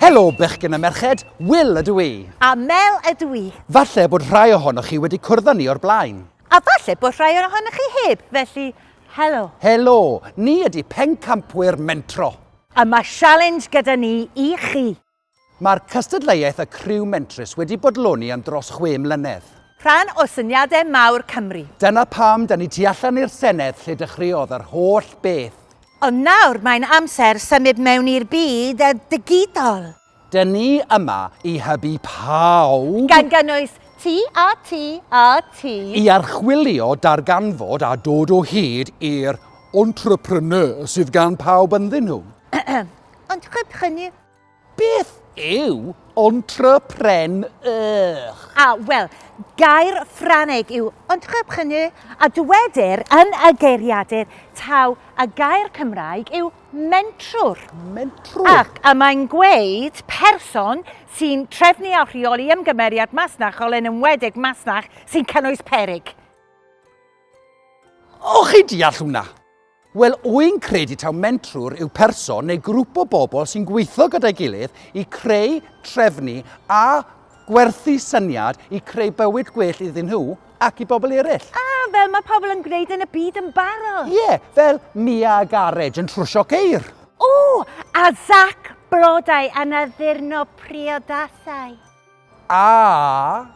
Helo, bechgyn a merched, Will ydw i. A Mel ydw i. Falle bod rhai ohonoch chi wedi cwrdd â ni o'r blaen. A falle bod rhai ohonoch chi heb, felly helo. Helo, ni ydy Pencampwyr Mentro. A mae sialens gyda ni i chi. Mae'r cystadleuaeth y Criw Mentrus wedi bodloni am dros chwe mlynedd. Rhan o syniadau mawr Cymru. Dyna pam 'da ni tu allan i'r Senedd lle dechreuodd yr holl beth. Ond nawr mae'n amser symud mewn i'r byd digidol. Da ni yma i hybu pawb. Gan gynnwys ti a ti a ti. I archwilio, darganfod a dod o hyd i'r entrepreneurs sydd gan pawb ynddyn nhw. Ond heb hynny, Beth yw entrepreneur? A, wel, gair Ffrangeg yw entrepreneur a dywedir yn y geiriadur taw y gair Cymraeg yw mentrwr. Mentrwr. Ac a mae'n gweud person sy'n trefnu a rheoli ymgymeriad masnachol yn enwedig masnach sy'n cynnwys peryg. O, chi deall hwnna. Wel, wy'n credu taw mentrwr yw person neu grŵp o bobl sy'n gweithio gyda'i gilydd i creu, trefnu a gwerthu syniad i creu bywyd gwell iddyn nhw ac i bobl eraill. A, fel mae pobl yn gwneud yn y byd yn barod. Ie, fel Mia a Garej yn trwsio ceir. O, a Zach, blodau, a Naddurno, priodasau. A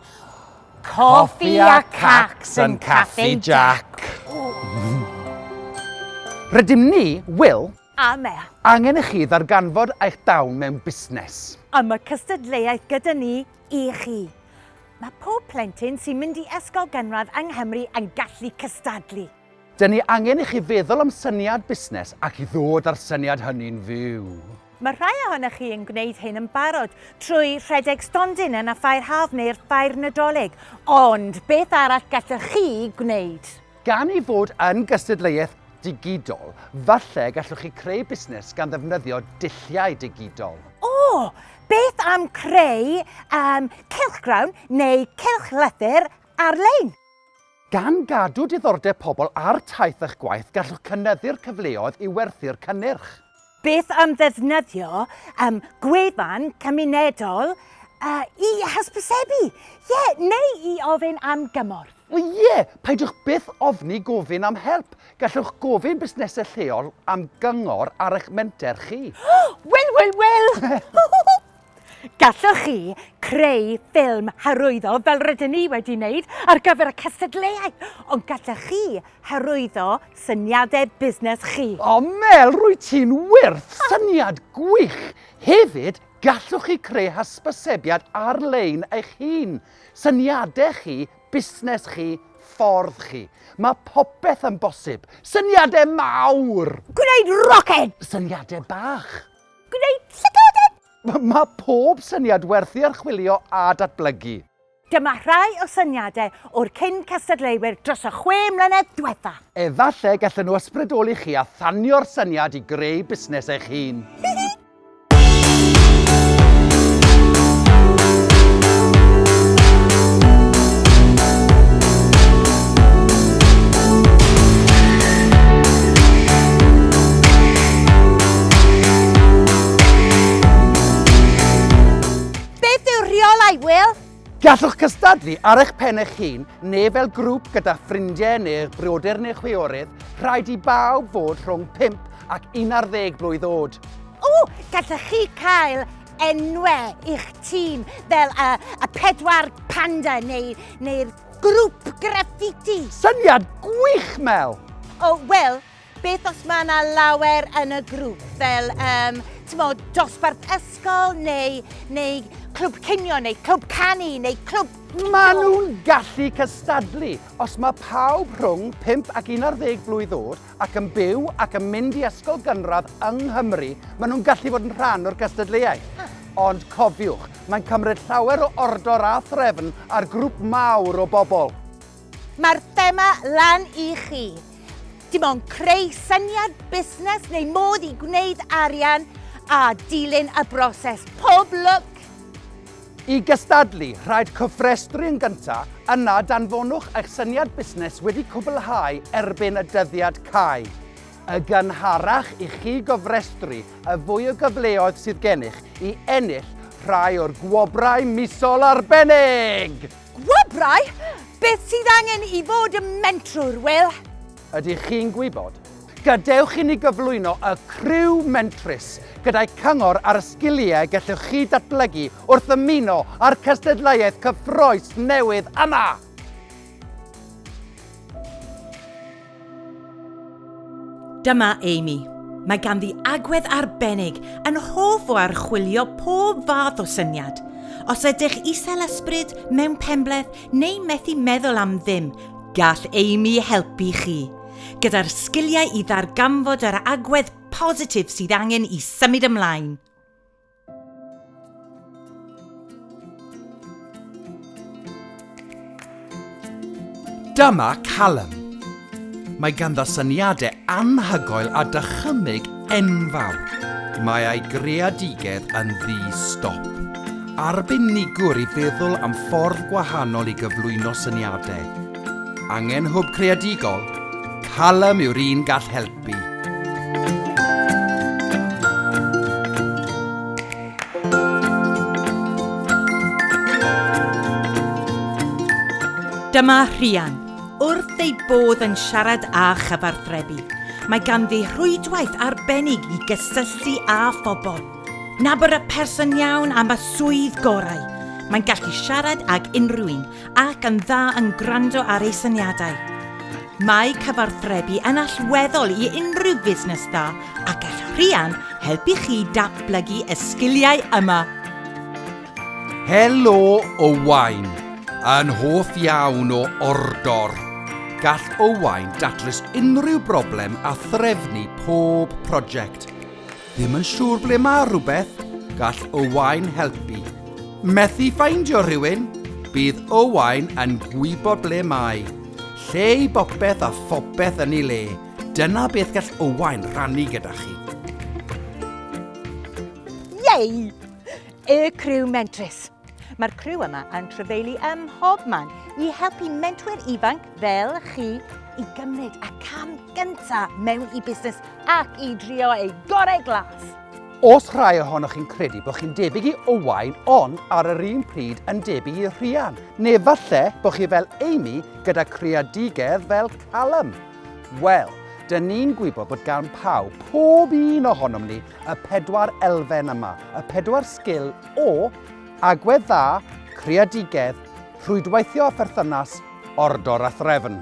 coffi a cacs yn Caffi Jac. Rydym ni, Wil. A Mel. Angen i chi ddarganfod eich dawn mewn busnes. A mae cystadleuaeth gyda ni i chi. Mae pob plentyn sy'n mynd i ysgol gynradd yng Nghymru yn gallu cystadlu. Dyn ni angen i chi feddwl am syniad busnes ac i ddod â'r syniad hynny'n fyw. Mae rhai ohonoch chi yn gwneud hyn yn barod trwy rhedeg stondin yn y Ffair Haf neu'r Ffair Nadolig, ond beth arall gallwch chi gwneud? Gan ei fod yn gystadleuaeth digidol, falle gallwch chi creu busnes gan ddefnyddio dulliau digidol. O! Beth am creu um, cylchgrawn neu cylchlythyr ar-lein? Gan gadw diddordeb pobl ar taith a'ch gwaith, gallwch cynyddu'r cyfleoedd i werthu'r cynnyrch. Beth am ddefnyddio um, gwefan cymunedol uh, i hysbysebu? Ie, yeah, neu i ofyn am gymorth? O ie, yeah, peidiwch byth ofni gofyn am help. Gallwch gofyn busnesau lleol am gyngor ar eich menter chi. Wel, wel, wel! Gallwch chi creu ffilm hyrwyddo fel rydyn ni wedi wneud ar gyfer y cystadleuaeth, ond gallwch chi hyrwyddo syniadau busnes chi. O Mel, rwyt ti'n wyrth! Syniad gwych! Hefyd, gallwch chi creu hysbysebiad ar-lein eich hun, syniadau chi, busnes chi, ffordd chi. Mae popeth yn bosib! Syniadau mawr! Gwneud roced! Syniadau bach! Gwneud llygod yn... Mae pob syniad werth ei archwilio a datblygu. Dyma rhai o syniadau o'r cyn cystadleuwyr dros y chwe mlynedd diwetha. Efallai gallen nhw ysbrydoli chi a thanio'r syniad i greu busnes eich hun. Beth yw'r rheolau, Will? Gallwch cystadlu ar eich pen eich hun neu fel grŵp gyda ffrindiau neu eich brodyr neu chwiorydd, rhaid i bawb fod rhwng 5 ac 11 blwydd oed. O, gallwch chi cael enwau i'ch tîm fel y, y pedwar panda neu, neu'r Grŵp graffiti! Syniad gwych, Mel! O, oh, wel, beth os mae yna lawer yn y grŵp, fel, um, ti'n modd, dosbarth ysgol, neu, neu clwb cinio, neu clwb canu, neu clwb... Mae nhw'n gallu cystadlu. Os mae pawb rhwng 5 ac 11 blwydd oed ac yn byw ac yn mynd i ysgol gynradd yng Nghymru, maen nhw'n gallu bod yn rhan o'r gystadleuaeth. Ond cofiwch, mae'n cymryd llawer o ordor a threfn ar grŵp mawr o bobl. Mae'r thema lan i chi. Dim ond creu syniad busnes neu modd i gwneud arian a dilyn y broses. Pob lwc! I gystadlu, rhaid cofrestru yn gyntaf, yna danfonwch eich syniad busnes wedi cwblhau erbyn y dyddiad cau. Y gynharach i chi gofrestru, y fwy o gyfleoedd sydd gennych i ennill rhai o'r gwobrau misol arbennig! Gwobrau? Beth sydd angen i fod yn mentrwr, Wil? Ydych chi'n gwybod? Gadewch i ni gyflwyno y criw mentrus gyda'i cyngor ar y sgiliau gellwch chi datblygu wrth ymuno â'r cystadleuaeth cyffrous newydd yma! Dyma Amy. Mae ganddi agwedd arbennig, yn hoff o archwilio pob fath o syniad. Os ydych isel ysbryd, mewn penbleth, neu methu meddwl am ddim, Gall Amy helpu chi gyda'r sgiliau i ddarganfod yr agwedd positif sydd angen i symud ymlaen. Dyma Callum. Mae ganddo syniadau anhygoel a dychymyg Enfawr. Mae ei greadigedd yn ddi-stop. Arbenigwr i feddwl am ffordd gwahanol i gyflwyno syniadau. Angen hwb creadigol? Callum yw'r un gall helpu. Dyma Rhian. Wrth ei bodd yn siarad â chyfathrebu, mae ganddi rhwydwaith arbennig i gysylltu â phobl. Nabod y person iawn am y swydd gorau. Mae'n gallu siarad ag unrhyw un ac yn dda yn gwrando ar ei syniadau. Mae cyfathrebu yn allweddol i unrhyw fusnes dda a gall Rhian helpu chi datblygu y sgiliau yma. Helo Owain! Yn hoff iawn o Ordor! Gall Owain datrys unrhyw broblem a threfnu pob prosiect. Ddim yn siŵr ble mae rhywbeth? Gall Owain helpu. Methu ffeindio rhywun? Bydd Owain yn gwybod ble mae. Lle i bopeth a phopeth yn ei le. Dyna beth gall Owain rannu gyda chi. Yay! Y Criw Mentrus. Mae'r criw yma yn trefeili ym mhob man i helpu mentwyr ifanc fel chi i gymryd y cam gyntaf mewn i busnes ac i drio ei gorau glas. Os rhai ohonoch chi'n credu bod chi'n debyg i Owain ond ar yr un pryd yn debyg i Rhian, neu falle bod chi fel Amy gyda creadigedd fel Callum, Wel, dyn ni'n gwybod bod gan pawb, pob un ohonom ni, y pedwar elfen yma, y pedwar sgil o agwedd dda, creadigedd, rhwydweithio a pherthynas, ordor a threfn.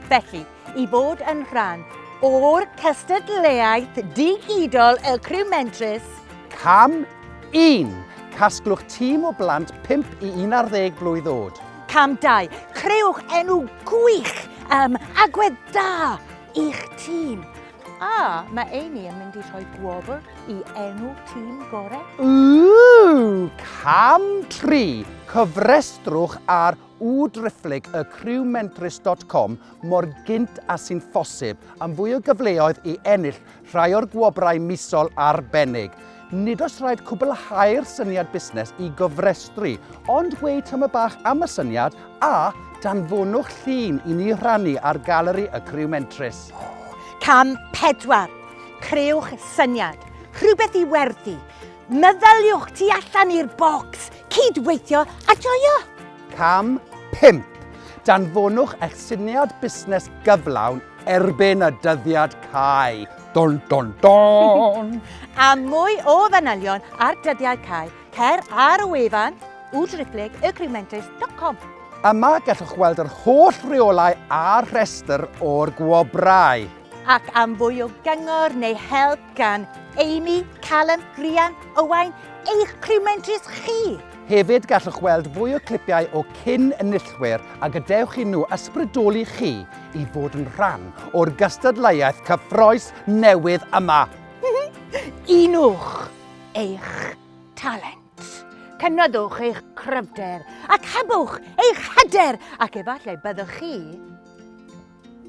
Felly, i fod yn rhan o'r cystadleuaeth digidol Y Criw Mentrus, cam 1. Casglwch tîm o blant 5 i 11 blwydd oed. Cam 2. Creuwch enw gwych um, agwedd da i'ch tîm. A mae Amy yn mynd i rhoi gwobr i enw tîm gorau. Ooh! Cam 3. Cofrestrwch ar u driphlyg y crewmentrus dot com mor gynt a sy'n ffosib am fwy o gyfleoedd i ennill rhai o'r gwobrau misol arbennig. Nid oes rhaid cwblhau'r syniad busnes i gofrestru, ond gweud tyma bach am y syniad a danfonwch llun i ni rhannu ar galeri y crewmentrus. Cam 4. Creuwch syniad, rhywbeth i werthu. Meddyliwch tu allan i'r bocs, cyd-weithio a joio! Cam 5. Danfonwch eich syniad busnes gyflawn erbyn y dyddiad cau. Don, don, don! Am mwy o fanylion ar dyddiad cau, cer ar y wefan www.driplygagreementers.com. Yma gallwch weld yr holl reolau a'r rhestr o'r gwobrau. Ac am fwy o gyngor neu help, Gan Amy, Callum, Rhian, Owain, eich criw mentrus chi! Hefyd gallwch weld fwy o clipiau o cyn enillwyr a gadewch i nhw ysbrydoli chi i fod yn rhan o'r gystadleuaeth cyffroes newydd yma! Unwch eich talent, cynydwch eich cryfder ac hebwch eich hyder ac efallai byddwch chi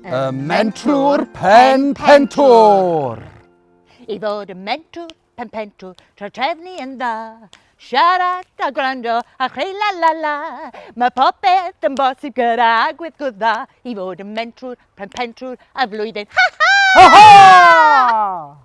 Y mentwr pen pentwr! I fod y mentwr pen pentwr, tra trefnu yn dda. Siarad a gwrando a chreu la la la. Mae popeth yn bosib gyda agweddgwr dda. I fod y mentwr pen pentwr a flwyddyn. Ha ha! Ha ha!